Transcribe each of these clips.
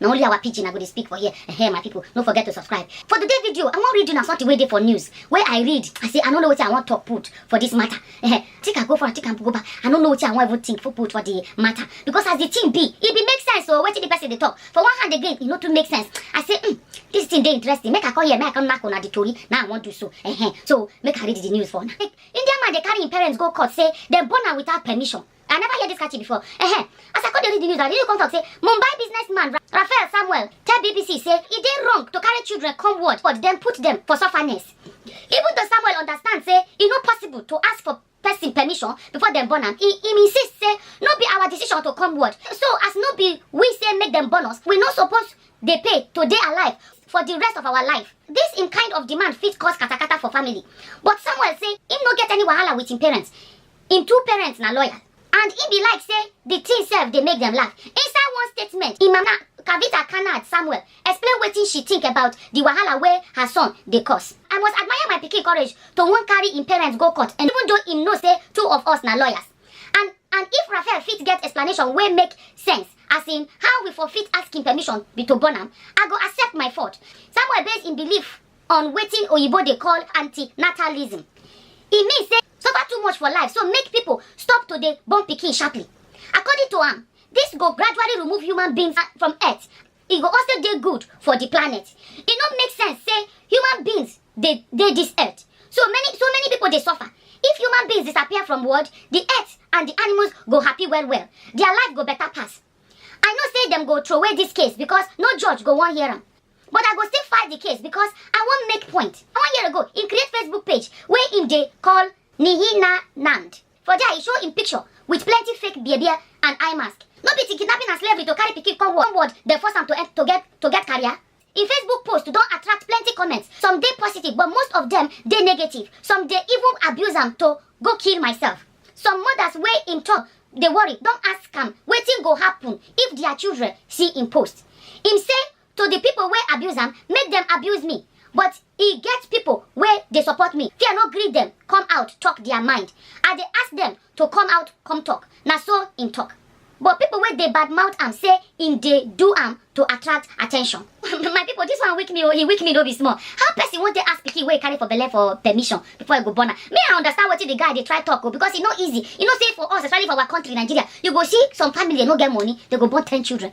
na only our pidgin i go dey speak for here ehe my people no forget to subscribe for today video i wan read you na something wey dey for news wey i read i say i no know wetin i wan talk put for this matter ehe take am go front take am go back i no know wetin i wan even think for put for the matter because as the thing be e be make sense o wetin the person dey talk for one hand again e no too make sense i say mm, this thing dey interesting make i come here make i come knack una the tori na i wan do so ehe so make i read the news for una indian man dey carry im parents go court say dem born am without permission I never hear this catchy before. Uh-huh. As I come dey read the news, I really come talk say Mumbai businessman Ra- Raphael Samuel tell BBC say e dey wrong to carry children come world but dem put dem for sufferness. Even though Samuel understand say e no possible to ask for person permission before dem born am, e im insist say no be our decision to come world. So as no be we say make dem born us, we no suppose dey pay to dey alive for the rest of our life. This im kind of demand fit cause katakata for family. But Samuel say im no get any wahala with im parents. im two parents na lawyers and im be like say di tin sef dey make dem laugh inside one statement im mama kavita kanad samuel explain wetin she think about di wahala wey her son dey cause i must admire my pikin courage to wan carry im parents go court and even though im know say two of us na lawyers and and if raphael fit get explanation wey make sense as in how we for fit ask im permission be to born am i go accept my fault samuel base im belief on wetin oyibo dey call antinatalism e mean say Suffer too much for life so make people stop to dey born pikin sharply. According to am, this go gradually remove human beings from earth. E go also dey good for the planet. E no make sense say human beings dey dey this earth. So many so many people dey suffer. If human beings disappear from world, the earth and the animals go happy well well. Their life go better pass. I know say dem go throway dis case because no judge go wan hear am. But I go still fight the case because I wan make point. One year ago, he create Facebook page wey him dey call Nihina Nand. For there, he show him picture with plenty fake beabia and eye mask. No be till kidnapping and slavery to carry pikin come world, come world dem force am to, en- to get to get career. im facebook post don attract plenty comments some dey positive but most of dem dey negative some dey even abuse am to go kill myself some mothers wey im talk dey worry don ask am wetin go happen if dia children see im post im say to di pipo wey abuse am make dem abuse me but e get pipo wey dey support me fear no gree dem come out tok dia mind i dey ask dem to come out come tok na so im tok but pipo wey dey badmouth am say im dey do am to attract attention my pipo dis one weak me o e weak me no be small how person wan take ask pikin wey e carry for belle for permission before e go born am me i understand wetin di guy dey try tok o because e no easy you know say for us especially for our country nigeria you go see some family no get money dem go born ten children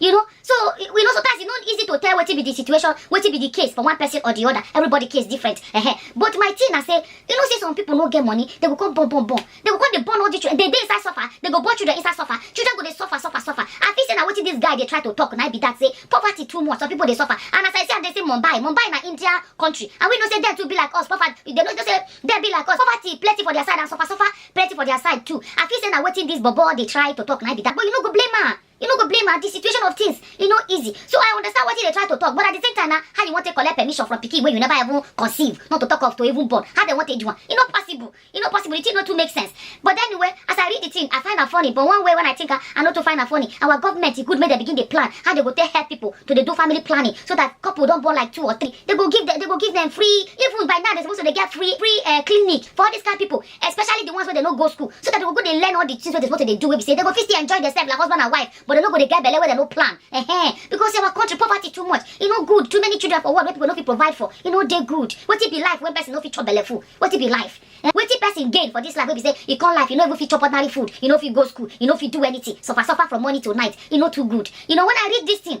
you know so we know sometimes e no easy to tell wetin be the situation wetin be the case for one person or the other everybody case different uh -huh. but my thing na say you know say some people no get money they go come born born born they go come dey born all the children they dey inside suffer they go born children inside suffer children go dey suffer suffer suffer i feel say na wetin this guy dey try to talk na be that say poverty too much some people dey suffer and as i see am dey say mumbai mumbai na india country and we know say dem too be like us poverty dem no know say dem be like us poverty plenty for their side and suffer suffer plenty for their side too i feel say na wetin this bobo dey try to talk na be that but you no go blame am you no go blame her the situation of things e no easy so i understand wetin dey try to talk but at the same time na how you wan take collect permission from pikin wey you never even conceive not to talk of to even born how dem wan take do am e no possible e no possible the thing no too make sense but anyway as i read the thing i find am funny but one way when i think am i no too find am funny our government e good make dem begin dey plan how dem go take help people to dey do family planning so that couple don born like two or three they go give them they go give them free even by now they suppose to dey get free free uh, clinic for all these kind people especially the ones wey dey no go school so that dem go go dey learn all the things wey dem suppose to dey do wey be say dem go fit still enjoy themselves like husband and wife but dem no go dey get belle wey dem no plan uh-huh. because our country poverty too much e no good too many children for world wey people no fit provide for e no dey good wetin be life when person no fit chop belle full wetin be life eh? wetin person gain for this life wey be say e come life e no even fit chop ordinary food e no fit go school e no fit do anything suffer suffer from morning to night e no too good you know when i read this thing